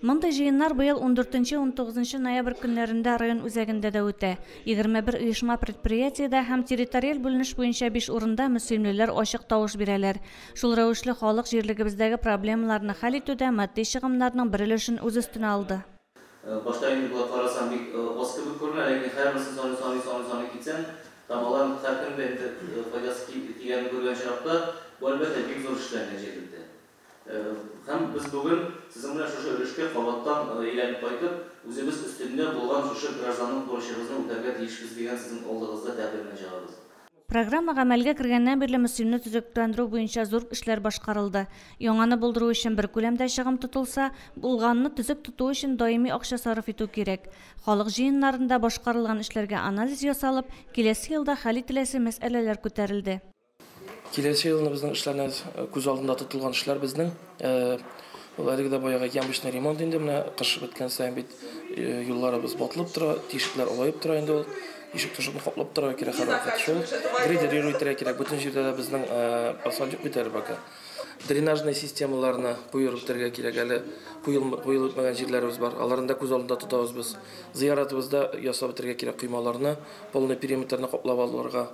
Мондый җыеннар быел ундүртенче-унтугызынчы ноябрь көннәрендә район үзәгендә дә үтә. Егерме бер оешма-предприятиедә һәм территориаль бүленеш буенча биш урында мөслимлеләр ачык тавыш бирәләр. Шул рәвешле халык җирлегебездәге проблемаларны хәл итүдә матди чыгымнарның бер өлешен үз өстенә алды. Башта инде болай карасаң бик аз кебек күренә, ләкин һәрберсен саный-саный-саный-саный китсәң, там аларның һәркемгә инде файдасы тигәнен күргән очракта, бу, әлбәттә, бик зур эшләнгән җирлектә. Һәм без бүген сезнең белән шушы өлешкә кабаттан әйләнеп кайтып, үзебез өстендә булган шушы гражданлык бурычыбызны үтәргә тиешбез дигән сезнең алдыгызда тәкъдимне чыгарабыз. Программа гамәлгә кергәннән бирле Мөслимне төзекләндерү буенча зур эшләр башкарылды. Яңаны булдыру өчен бер күләмдә чыгым тотылса, булганны төзек тоту өчен даими акча сарыф итү кирәк. Халык җыеннарында башкарылган эшләргә анализ ясалып, киләсе елда хәл ителәсе мәсьәләләр күтәрелде. Киләсе елны безнең эшләрне күз алдында тотылган эшләр безнең ул әлеге дә баягы ямочный ремонт инде менә кыш беткән саен бит юлларыбыз батылып тора, тишекләр олаеп тора инде ул ишек тышын каплап торырга кирәк һәрвакыт шул грейдерировать итәргә кирәк бөтен җирдә дә безнең асфальт юк бит әле пока дренажный системаларны куерып бетергә кирәк әле куелмый куелып бетмәгән җирләребез бар аларны да күз алдында тотабыз без зыяратыбызда ясап бетергә кирәк коймаларны полный периметрны каплап алырга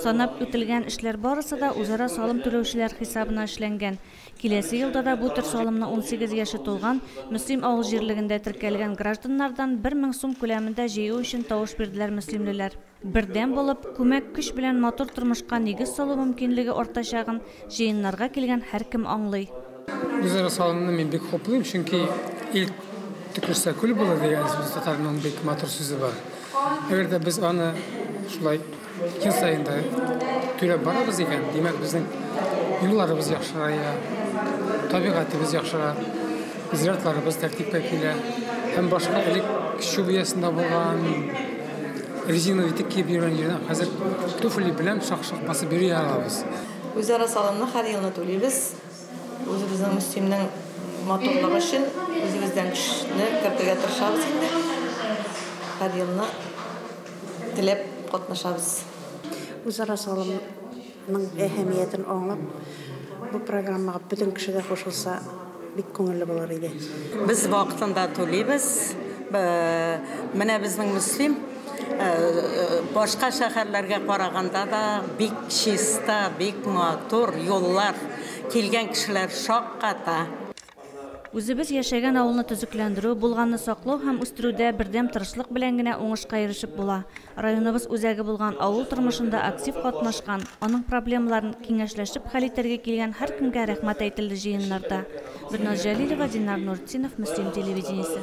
Санап үтелгән эшләр барысы да үзара салым түләүчеләр хисабына эшләнгән. Киләсе елда да бу төр салымны унсигез яше тулган Мөслим авыл җирлегендә теркәлгән гражданнардан бер мең сум күләмендә җыю өчен тавыш бирделәр мөслимлеләр. Бердәм булып, күмәк көч белән матур тормышка нигез салу мөмкинлеге артачагын җыеннарга килгән һәркем аңлый. Үзара салымны мин бик хуплыйм, чөнки ил төкерсә күл булыр дигән сүз татарның бик матур сүзе бар. Әгәр дә без аны шулай ел саен да түләп барабыз икән, димәк безнең юлларыбыз яхшырая, табигатыбыз яхшыра, зиратларыбыз тәртипкә килә һәм башка элек чү биясендә булган резина итек киеп йөргән җирдән хәзер туфли белән шак-шак басып йөри алабыз. Үзара салымны һәр елны түлибез. Үзебезнең Мөслимнең матурлыгы өчен үзебездән көчне кертергә тырышабыз инде. Һәр елны теләп катнашабыз. Үзара салымның әһәмиятен аңлап, бу программага бөтен кеше дә кушылса, бик күңелле булыр иде. Без вакытында түлибез. Менә безнең Мөслим. Башка шәһәрләргә караганда да бик чиста, бик матур юллар. Килгән кешеләр шакката. Үзебез яшәгән авылны төзекләндерү, булганны саклау һәм үстерүдә бердәм тырышлык белән генә уңышка ирешеп була. Районыбыз үзәге булган авыл тормышында актив катнашкан, аның проблемаларын киңәшләшеп хәл итәргә килгән һәркемгә рәхмәт әйтелде җыеннарда. Берназ Җәлилова, Динар Нуртдинов, Мөслим телевидениесе.